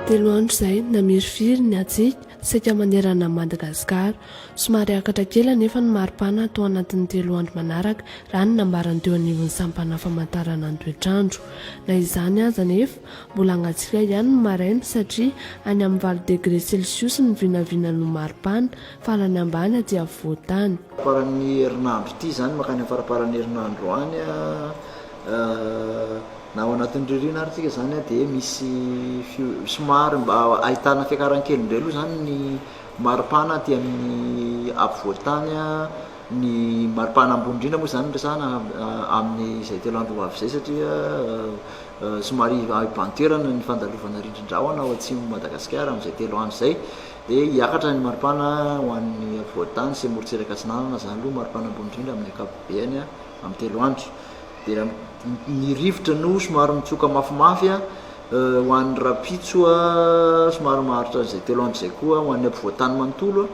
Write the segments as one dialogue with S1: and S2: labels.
S1: Telo andro izay namirifiry ny hatsiaka saika manerana an'i Madagasikara. Somary akatra kely anefa ny maripana tao anatin'ny telo andro manaraka raha ny nambaran'ny teo anivon'ny sampana famantarana ny toetr'andro. Na izany aza anefa, mbola hangatsiaka ihany ny maraina satria any amin'ny valo degre celsius ny vinavina no maripana Farany ambany aty afovoan-tany. Faran'ny herinandro
S2: ity izany, mankany amin'ny faramparan'ny herinandro any, na ao anatin'ny ririnina ary tsika izany dia misy somary mba ahitana fiakaran'ny kely indray aloha izany ny maripana aty amin'ny afovoan-tany, ny maripana ambony indrindra moa izany no resahana amin'izay telo andro ho avy izay satria somary hibahan-toerana ny fandalovana rindrin-drahona ao atsimon'i Madagasikara amin'izay telo andro izay. Dia hiakatra ny maripana ho an'ny afovoan-tany sy morontsiraka atsinanana, izany aloha maripana ambony indrindra amin'ny ankapobeny, amin'ny telo andro. Dia ny rivotra no somary mitsoka mafimafy ho an'ny rahampitso, somary maharitra izay telo andro izay koa ho an'ny afovoan-tany manontolo,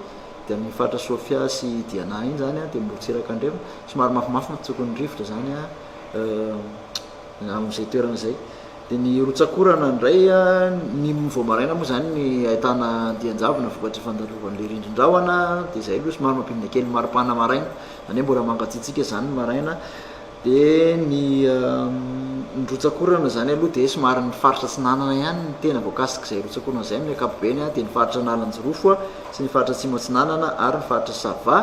S2: dia amin'ny faritra Sofia sy Diana iny izany, dia morontsiraka andrefana, somary mafimafy mitsoka ny rivotra izany. Amin'izay toerana izay. Dia ny rotsak'orana indray, ny vao maraina moa izany ny ahitana andian-javona vokatry ny fandalovan'ilay rindrin-drahona, dia izay aloha somary mampidina kely ny mari-pana maraina, izany hoe mbola mangatsiatsiaka izany ny maraina. Dia ny ny rotsak'orana izany aloha dia somary ny faritra atsinanana ihany no tena voakasik'izay rotsak'orana izay amin'ny ankapobeny, dia ny faritra Analanjirofo sy ny faritra atsimo atsinanana ary ny faritra Sava.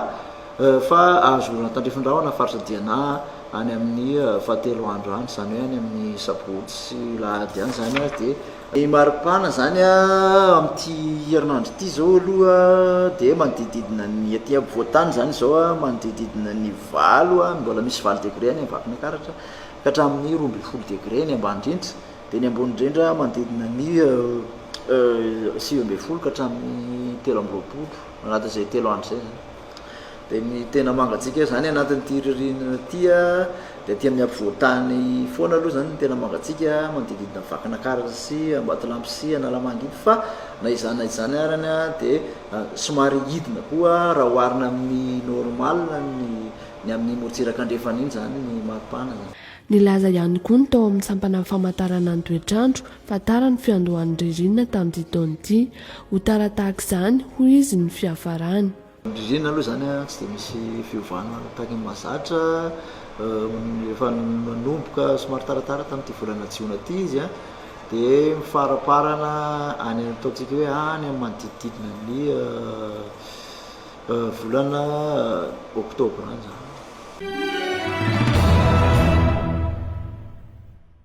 S2: fa azo oran'ny Tandrifin-drahona faritra Diana any amin'ny fahatelo andro any, izany hoe any amin'ny sabotsy sy lahady any izany ary dia. Ny maripana izany amin'ity herinandro ity izao aloha dia manodidididina ny aty ampovoan-tany izany izao manodidididina ny valo, mbola misy valo degré any Vakinankaratra ka hatramin'ny roa ambin'ny folo degré ny ambany indrindra, dia ny ambony indrindra manodidina ny sivy ambin'ny folo ka hatramin'ny telo amby roapolo. anaty izay telo andro izay zany dia ny tena mangatsiaka zany anatin'ity ririnina ity a dia aty amin'ny ampovoan-tany foana aloha zany ny tena mangatsiaka manodididina Vakinakaratra sy Ambatolampy sy Analamanga iny fa na izany na izany arany a dia somary hidina koa raha oharina amin'ny normal ny ny amin'ny morontsiraka andrefana iny zany ny maripana zany. Nilaza ihany koa
S1: ny tao amin'ny sampanan'ny famantarana ny toetr'andro fa tara ny fiandohan'ny ririnina tamin'ity taona ity, ho tara tahaka izany hoy izy ny fiafarany. Ny ririnina aloha izany
S2: tsy dia misy fiovana tahaka ny mahazatra, efa nanomboka somary taratara tamin'ity volana jiona ity izy dia mifaramparana any amin'ny ataontsika hoe any amin'ny manodidididina ny volana oktobra any izany.